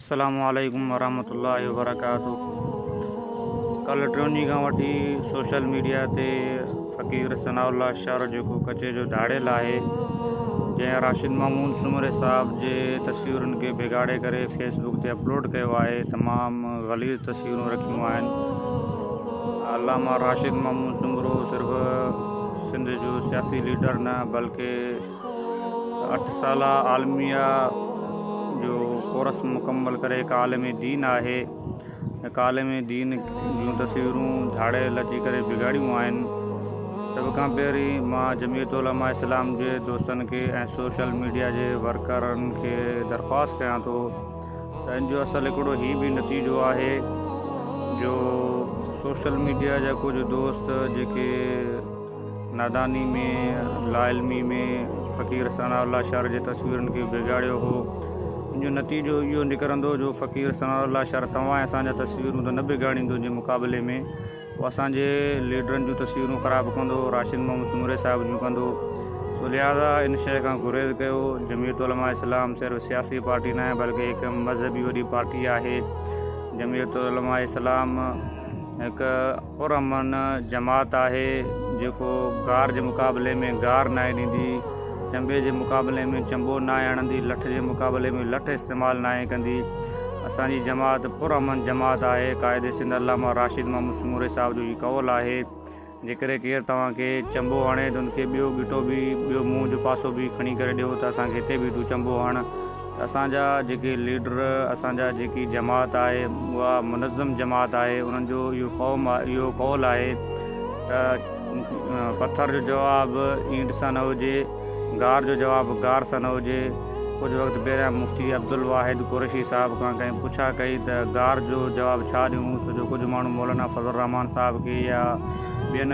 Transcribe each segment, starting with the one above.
السلام عليڪم ورحمة الله وبرڪاته ڪلهه ٽيون ڏينهن کان وٺي سوشل ميڊيا تي فقير ثناء الله شر جيڪو ڪچي جو ڌاڙيل آهي جنهن راشد محمود سومري صاحب جي تصويرن کي بگاڙي ڪري فيس بڪ تي اپلوڊ ڪيو آهي تمام غليظ تصويرون رکيون آهن علامه راشد محمود سومرو صرف سنڌ جو سياسي ليڊر نه بلڪه اٺ سالا عالميه جو ڪورس مڪمل ڪري هڪ عالم دين آهي. هڪ عالم دين جون تصويرون جهاڙيل اچي ڪري بگاڙيون آهن. سڀ کان پهرين مان جمعيت علماء اسلام جي دوستن کي ۽ سوشل ميڊيا جي ورڪرن کي درخواست ڪيان ٿو ته ان جو اصل هڪڙو هي به نتيجو آهي جو سوشل ميڊيا جا ڪجهه دوست جيڪي ناداني ۾ لاعلمي ۾ فقير ثناء الله شر جي تصويرن کي بگاڙيو هو ان جو نتيجو اهو نڪرندو جو فقير ثناء الله شر توهان ۽ اسان جا تصويرون ته نه بگاڙيندو جي مقابلي ۾ هو اسان جي ليڊرن جون تصويرون خراب ڪندو راشد محمد سومري صاحب جون ڪندو سو لهذا ان شيء کان گريز ڪيو جميعت علماء اسلام صرف سياسي پارٽي ناهي بلڪه هڪ مذهبي وڏي پارٽي آهي جميعت علماء اسلام هڪ پرامن جماعت آهي جيڪو گار جي مقابلي ۾ گار ناهي ڏيندي، چنبي جي مقابلي ۾ چنبو ناهي آڻندي، لٺ جي مقابلي ۾ لٺ استعمال ناهي ڪندي. اسان جي جماعت پرامن جماعت آهي. قائد سنڌ علامه راشد محمد سومري صاحب جو هي قول آهي، جيڪڏهن ڪير توهان کي چنبو هڻي ته ان کي ٻيو ڳٽو به، ٻيو منهن جو پاسو به کڻي ڪري ڏيو ته اسان کي هتي به تون چنبو هڻ. اسان جا جيڪي ليڊر اسان جا جيڪي جماعت آهي اها منظم جماعت آهي انهن جو اهو قوم اهو قول آهي ته پٿر جو جواب اينٽ سان نه هجي گار جو جواب گار سان نه هجي ڪجهه وقت پهريان مفتي عبدالواحد قريشي صاحب کان ڪنهن پڇا ڪئي ته گار جو جواب ڇا ڏيون ڇو جو ڪجهه ماڻهو مولانا فضل الرحمان صاحب کي يا ٻين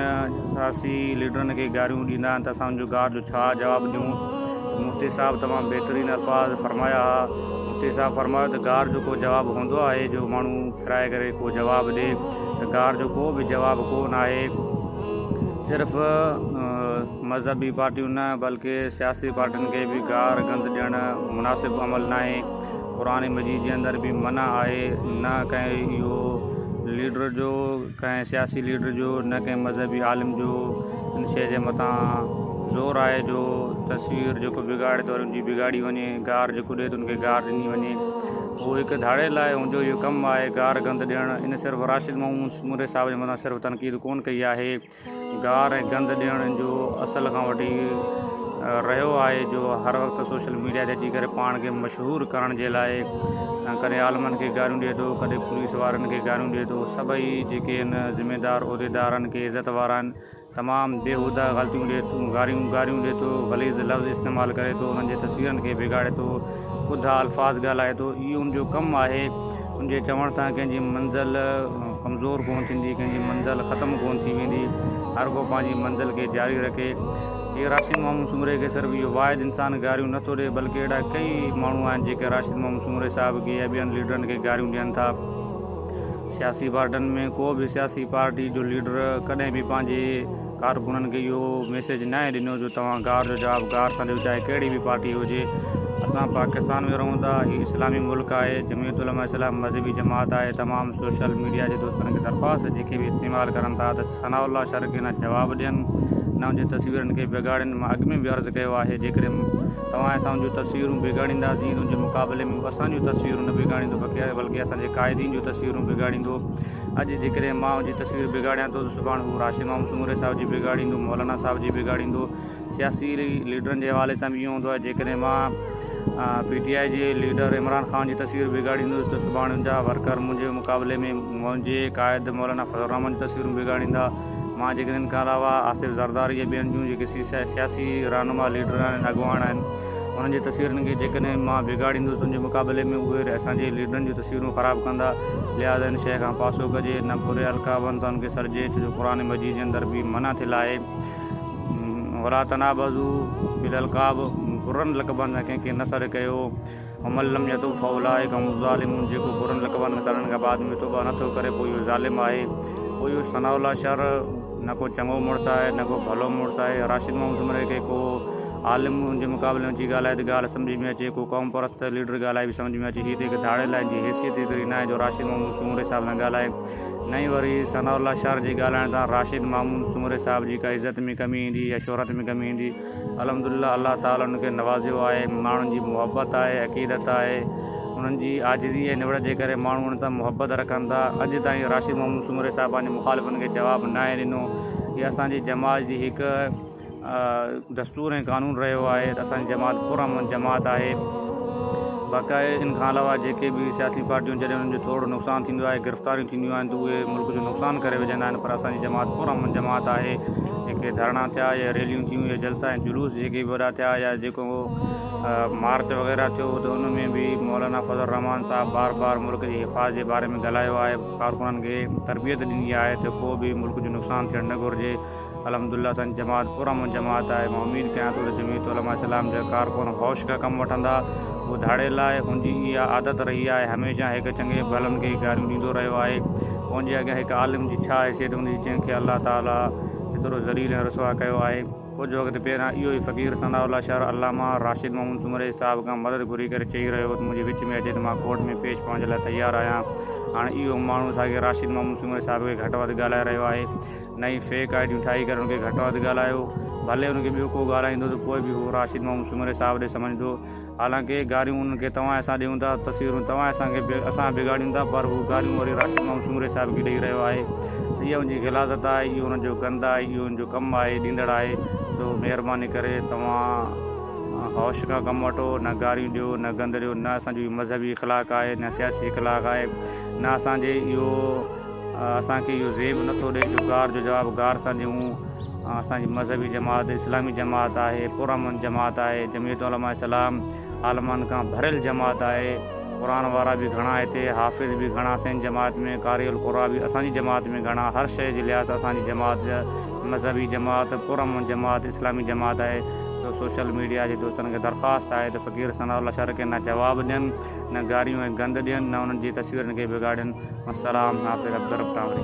سياسي ليڊرن کي گاريون ڏيندا آهن ته اسان ان جو گار جو ڇا جواب ڏيون ته مفتي صاحب تمام بهترين الفاظ فرمايا ها مفتي صاحب فرمايو ته گار جو ڪو جواب هوندو آهي جو ماڻهو ڦيرائي ڪري ڪو جواب ڏي ته گار جو ڪو به جواب ڪو نه آهي صرف مذهبي پارٽيون نه بلڪه سياسي پارٽين کي به گار گند ڏيڻ مناسب عمل نه آهي قرآن مجيد جي اندر به منع آهي نه ڪنهن اهو ليڊر جو ڪنهن سياسي ليڊر جو نه ڪنهن مذهبي عالم جو ان شيء جي مٿان زور آهي جو تصوير جيڪو بگاڙي ٿو ان جي بگاڙي وڃي گار جيڪو ڏئي ٿو ان کي گار ڏني وڃي اهو هڪ ڌاڙيل آهي ان جو اهو ڪم آهي گار گند ڏيڻ ان صرف راشد محمود سومري صاحب جي مٿان صرف تنقيد ڪونه ڪئي آهي گار ۽ گند ڏيڻ جو اصل کان وٺي رهيو آهي جو هر وقت سوشل ميڊيا تي اچي ڪري پاڻ کي مشهور ڪرڻ جي لاء ڪڏهن عالمن کي گاريون ڏئي ٿو ڪڏهن پوليس وارن کي گاريون ڏئي ٿو سڀئي جيڪي آهن ذميدار عهديدار آهن ڪي عزت وارا آهن تمام بيهوده غلطيون ڏئي ٿو گاريون گاريون ڏئي ٿو غليظ لفظ استعمال ڪري ٿو انهن جي تصويرن کي بگاڙي ٿو ٻڌا الفاظ ڳالهائي ٿو اهو ان جو ڪم آهي ان جي چوڻ سان ڪنهن جي منزل ڪمزور ڪونه ٿيندي، ڪنهن جي منزل ختم ڪونه ٿي ويندي، هر ڪو پنهنجي منزل کي جاري رکي. هيء راشد محمد سومري کي صرف اهو واحد انسان گاريون نه ٿو ڏئي، بلڪ اهڙا ڪيئي ماڻهو آهن، جيڪي راشد محمد سومري صاحب کي يا ٻين ليڊرن کي گاريون ڏين ٿا. سياسي پارٽين ۾، ڪو به سياسي پارٽي جو ليڊر ڪڏهن به پنهنجي. ڪارڪنن کي اهو ميسيج ناهي ڏنو جو توهان گار جو جواب گار سان ڏيو چاهي ڪهڙي به پارٽي هجي اسان پاڪستان ۾ رهون ٿا هي اسلامي ملڪ آهي جمعيت علماء اسلام مذهبي جماعت آهي تمام سوشل ميڊيا جي دوستن کي درخواست جيڪي به استعمال ڪرن ٿا ته ثناء الله شرقي نه جواب ڏين نه ان جي تصويرن کي بگاڙين مان اڳ ۾ به عرض ڪيو آهي جيڪڏهن توهان اسان جون تصويرون بگاڙينداسين ان جي مقابلي ۾ هو اسان جون تصويرون نه بگاڙيندو بلڪه اسان جي قائدين جون تصويرون بگاڙيندو اڄ جيڪڏهن مان انجي تصوير بگاڙيان ٿو ته سڀاڻ هو راشد محمد سومري صاحب جي بگاڙيندو، مولانا صاحب جي بگاڙيندو، سياسي ليڊرن جي حوالي سان به ائين هوندو آهي جيڪڏهن مان پي ٽي آء جي ليڊر عمران خان جي تصوير بگاڙيندس ته سڀاڻ انجا ورڪر منهنجي مقابلي ۾ منهنجي قائد مولانا فضل الرحمان جون تصويرون بگاڙيندا، مان جيڪڏهن ان کان علاوه آصف زرداري يا ٻين جون جيڪي سياسي رهنما ليڊر آهن اڳواڻ آهن. انهن جي تصويرن کي جيڪڏهن مان بگاڙيندس تنهنجي مقابلي ۾ اهي اسان جي ليڊرن جون تصويرون خراب ڪندا لهٰذا ان شيء کان پاسو ڪجي نه بري القابن سان ان کي سڏجي ڇو جو قرآن مجيد جي اندر به منع ٿيل آهي ولا تنابزو بالالقاب برن لقبن سان ڪنهن کي نه سڏ ڪيو ومن لم يتوب فاولئک هم الظالمون جيڪو برن لقبن سان سڙڻ کان بعد ۾ توبه نه ٿو ڪري پوء اهو ظالم آهي پوء اهو ثناء الله شر نه ڪو چڱو مڙس آهي نه ڪو ڀلو مڙس آهي راشد محمد سومري کي ڪو عالم ان جي مقابلي ۾ اچي ڳالهائي ته ڳالهه سمجهه ۾ اچي ڪو قوم پرست ليڊر ڳالهائي به سمجهه ۾ اچي هي ته هڪ ڌاڙيل آهن جنهن جي حيثيت ايتري ناهي جو راشد محمود سومري صاحب سان ڳالهائي نه ئي وري ثناء الله شر جي ڳالهائڻ سان راشد محمود سومري صاحب جي ڪا عزت ۾ ڪمي ايندي يا شهرت ۾ ڪمي ايندي الحمدلله الله تعالي انهن کي نوازيو آهي ماڻهن جي محبت آهي عقيدت آهي انهن جي عاجزي ۽ نوڙت جي ڪري ماڻهو انهن سان محبت رکن ٿا اڄ تائين راشد محمد سومري صاحب پنهنجي مخالفن کي جواب ناهي ڏنو هي اسان جي جماعت جي هڪ دستور ۽ قانون رهيو آهي ته اسان جي جماعت پر امن جماعت آهي باقاعي ان کان علاوه جيڪي به سياسي پارٽيون جڏهن انهن جو ٿورڙو نقصان ٿيندو آهي گرفتاريون ٿينديون آهن ته اهي ملڪ جو نقصان ڪري وجهندا آهن پر اسان جي جماعت پر امن جماعت آهي جيڪي ڌرڻا ٿيا يا ريليون ٿيون يا جلسا ۽ جلوس جيڪي وڏا ٿيا يا جيڪو مارچ وغيره ٿيو ته ان ۾ به مولانا فضل الرحمان صاحب بار بار ملڪ جي حفاظ جي باري ۾ ڳالهايو آهي ڪارڪنن کي تربيت ڏني آهي ته ڪو به ملڪ جو نقصان ٿيڻ نه گهرجي الحمدلله اسانجي جماعت پرامن جماعت آهي مان اميد ڪيان ٿو ته جمعيت علماء اسلام جا ڪارڪن هوش کان ڪم وٺندا ٻڌاڙي لاء هنجي اها عادت رهي آهي هميشه هڪ چڱي ڀلن کي گاريون ڏيندو رهيو آهي هنجي اڳيان هڪ عالم جي ڇا حيثيت هوندي جنهن کي الله تعالي ايترو ذليل ۽ رسوا ڪيو آهي ڪجهه وقت پهريان اهو ئي فقير ثناء الله شر علامه راشد محمد سومري صاحب کان مدد گهري ڪري چئي رهيو هو ته منهنجي وچ ۾ اچي ته مان ڪورٽ ۾ پيش پوڻ جي لاء تيار آهيان هاڻ اهو ماڻهو ساڳي راشد محمد سومري صاحب کي گهٽ وڌ ڳالهائي رهيو آهي نئين فيڪ آئي ڊيون ٺاهي ڪري ان کي گهٽ وڌ ڳالهايو ڀلي ان کي ٻيو ڪو ڳالهائيندو ته پوء به هو راشد محمد سومري صاحب ڏي سمجهندو حالانڪ گاريون انهن کي توهان اسان ڏيون ٿا تصويرون توهان اسان کي اسان بگاڙيون ٿا پر هو گاريون وري راشد محمد سومري صاحب کي ڏئي رهيو آهي اها ان جي غلاظت آهي اهو ان جو گند آهي اهو ان جو ڪم آهي ڏيندڙ آهي تو مهرباني ڪري توهان هوش کان ڪم وٺو نه گاريون ڏيو نه گند ڏيو نه اسان جو مذهبي اخلاق آهي نه سياسي اخلاق آهي نه اسان جي اهو اسان کي اهو زيب نٿو ڏئي جو غار جو جواب غار سان ڏيون. اسان جي مذهبي جماعت اسلامي جماعت آهي، پرامن جماعت آهي، جمعيت علماء اسلام عالمن کان ڀريل جماعت آهي، قرآن وارا به گهڻا هتي، حافظ به گهڻا سين جماعت ۾، قارئ القرآ به اسان جي جماعت ۾ گهڻا، هر شيء جي لحاظ سان اسان جي جماعت مذهبي جماعت، پرامن جماعت اسلامي جماعت آهي، سو سوشل ميڊيا جي دوستن کي درخواست آهي ته فقير ثناء الله شرڪينا جواب ڏين. نه گاريون ۽ گند ڏين نه انهن جي تصويرن کي بگاڙين. والسلام حافظ عبدالرب ٽانوري.